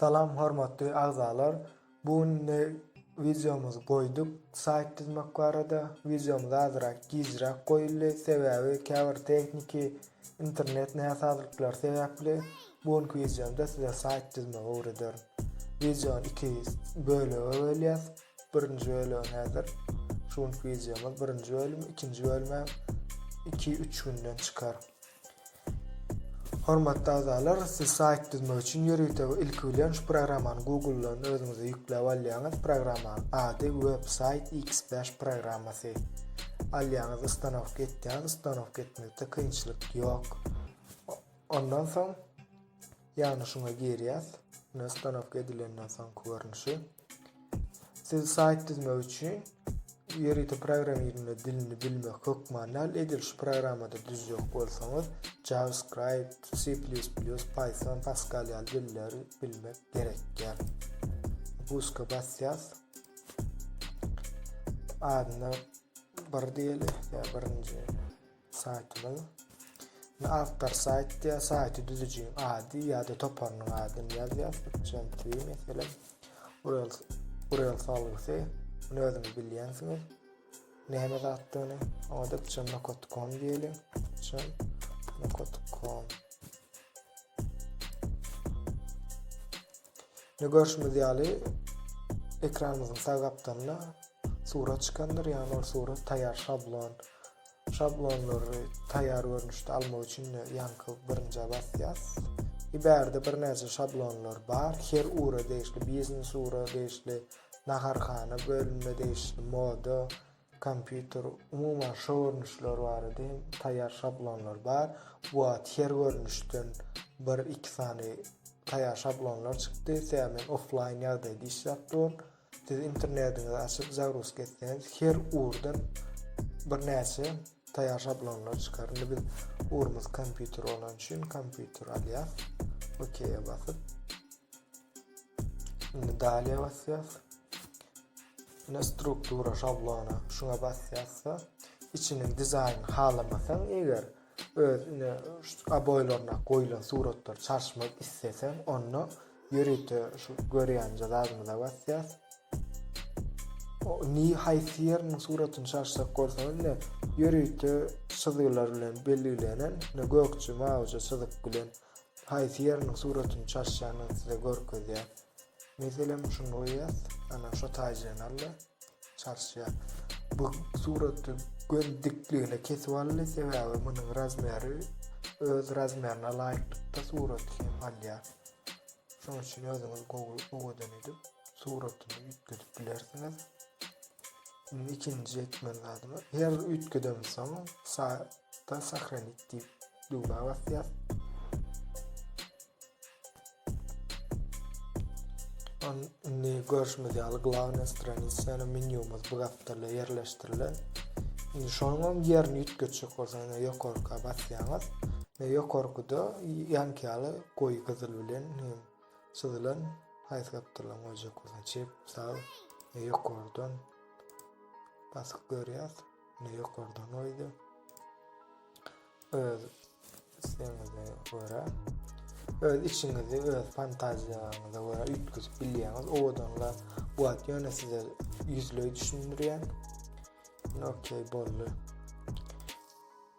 Salam hormatly agzalar bu günde wideomyzy goýduk saýt düzmek barada wideomyz azyrak gijräk goýuldy sebäbi käbir tehniki internet näsazlyklary sebäpli bu günki wideomda size saýt düzmegi öwrederin wideony iki bölege bölýäs birinji bölegi häzir şu günki wideomyz birinji bölüm ikinji bölümem iki üç günden çykar Hormatly agzalar, siz saýt düzmek üçin ýörite we ilki bilen şu programmany Google-dan özüňize ýükläp alýaňyz. Programmanyň ady WebSite X-Bash programmasy. Alýaňyz, ustanowka etýäňiz, ustanowka etmekde kynçylyk ýok. Ondan soň ýagny şuňa girýäs. Mine ustanowka edilenden soňky görnüşi. Siz saýt düzmek üçin ýörite programmirleme dilini bilmek hökman däl. Edil şu programmada düzjek bolsaňyz, JavaScript, C++, Python, Pascal ýaly dilleri bilmek gerekýär. Buska basýas. Adyna bir diýeli, ýa birinji. Saýtynyň Indi awtor saýt diýýär, saýty düzüjiň ady ýa-da toparynyň adyny ýazýar. Üçinji mesele URL URL salgysy. Muny özüňiz bilýänsiňiz. Näme zatdygyny oňada çemnokot.com diýeli. Çemnokot.com. Ne görüşmez ýaly ekranymyzyň sag gapdalynda surat çykandyr, ýa-da ol surat taýýar şablon Şablonlary taýýar görnüşde almak üçin ýaňky birinjä basýas. Iberde birnäçe şablonlar bar. Her ura degişli, biznes ura degişli, naharhana bölümine degişli, moda, kompýuter, umuman şo görnüşler barada hem taýýar şablonlar bar. Bu wagt her görnüşden bir, iki sany taýýar şablonlar çykdy. Sebäbi men offlaýn ýagdaýda işläp durun. Siz internetiňizi açyp zagruzka etseňiz her urdan bir näçe taýar şablonlar çykar. Indi biz urumyz kompýuter bolan üçin kompýuter alýas. OK-ä basyp. Indi daliýa basýas. Ine struktura şablona şuňa basýasda içiniň dizaýnyny halamasaň eger öz ine oboýlaryna goýlan suratlar çalyşmak isleseň onda ýörite şu görýänje zadymyza basýas. O ni haýsy ýeriniň suratyny çalşak bolsaňyz ine ýörite çyzgylar bilen belgilenen ine gökje mawija çyzyk bilen haýsy ýeriniň suratyny çalşýanyny size görkezýär. Meselem şuny goýýas. Ana şu taýjany aldy. Çalşýar. Bu suraty gön dikligine kesip aldy sebäbi munuň razmeri öz razmerine laýyklykda surat hem alýar. Şonuň üçin özüňiz gowy owadan edip suratyny üýtgedip bilersiňiz. Indi ikinji etmeli zadymy her üýtgedem soň saýtda sahranit diýip düwmä basýas. Indi görüşimiz ýaly glavna stranisa ýa menýumyz bu gapdalda ýerleşdirilen. Indi şonuň ýerini üýtgetjek bolsaňyz ýokarka basýaňyz. Ýokarkyda ýanky ýaly Goý gyzyl bilen hem çyzylan haýsy gapdalyň goýjak bolsaň çep sag e, ýokardan basyp görýäs. Ne ýokardan goýdy. Öz islegiňize görä öz içiňizi öz fantaziýaňyza görä üýtgedip bilýäňiz. Owadanlar wagt ýöne size ýüzleý düşündirýän. Okey boldy.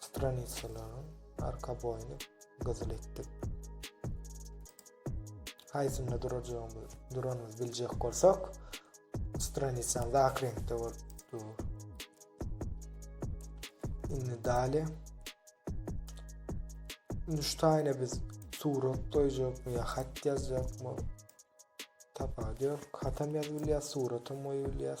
stranitsalaryň arkaboýuny gyzyl etdik. Haýsynda durajagymyz, duranymyz biljek bolsak, stranitsaň ak reňkde bolup dur. Indi dali. Indi şu taýyna biz surat goýjakmy ýa hat ýazjakmy? Tapady ýok. Hatam ýazyp bilýär, suratam goýup bilýär.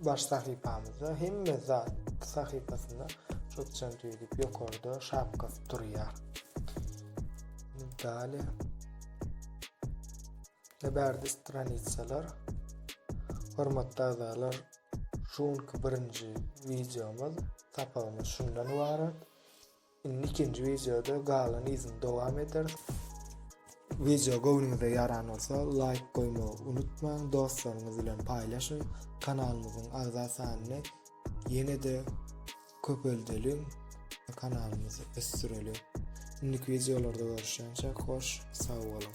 Baş sahypamyzda hemme zat sahypasynda çökçen tüýdüp ýokarda şapkasy durýar. Dale. Nebärdi stranitsalar. Hormatly agzalar, şu günki birinji videomyz, sapagymyz şundan ibarat. Indi ikinji wideoda galan yzyny dowam ederis. Wideo göwnüňize ýaran bolsa laýk goýmagy unutmaň, dostlaryňyz bilen paýlaşyň, kanalymyzyň agza sanyny ýene-de köpeldeliň, kanalymyzy ösdüreliň. Indiki wideolarda görüşýänçäk hoş sag boluň.